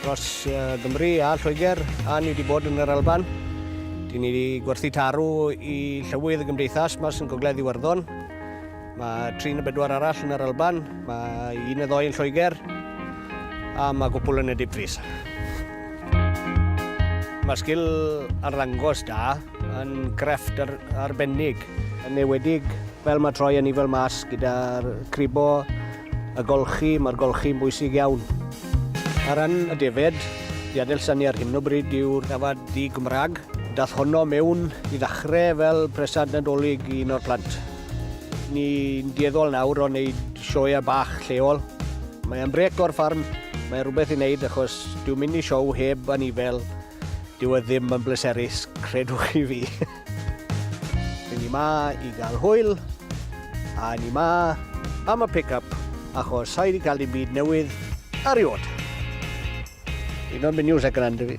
Dros Gymru a Lloegr a ni wedi bod yn yr Alban. Dyn ni wedi gwerthu tarw i llywydd y gymdeithas mas yn Gogledd Iwerddon. Mae tri neu bedwar arall yn yr Alban, mae un neu ddoi yn Lloegr a mae gwpl yn y Dipfris. Mae sgil arddangos da yn grefft ar, arbennig. Yn ewedig, fel mae troi yn ifel mas gyda'r cribo Y golchi, mae'r golchi'n bwysig iawn. Ar ran y defaid, i adelsannu ar hyn o bryd yw'r dafad di-Gymraeg. Daeth honno mewn i ddechrau fel presant Nadolig i un o'r plant. Ni'n dueddol nawr o wneud sioeau bach lleol. Mae e'n brêc o'r ffarm, mae'n rhywbeth i wneud achos dyw mynd i sioe heb anifail, dyw e ddim yn bleserus, credwch chi fi. Ni yma i gael hwyl, a ni yma am y pick-up, achos sa'i di cael dim byd newydd ariod. Ti'n o'n mynd news ac yn andy fi.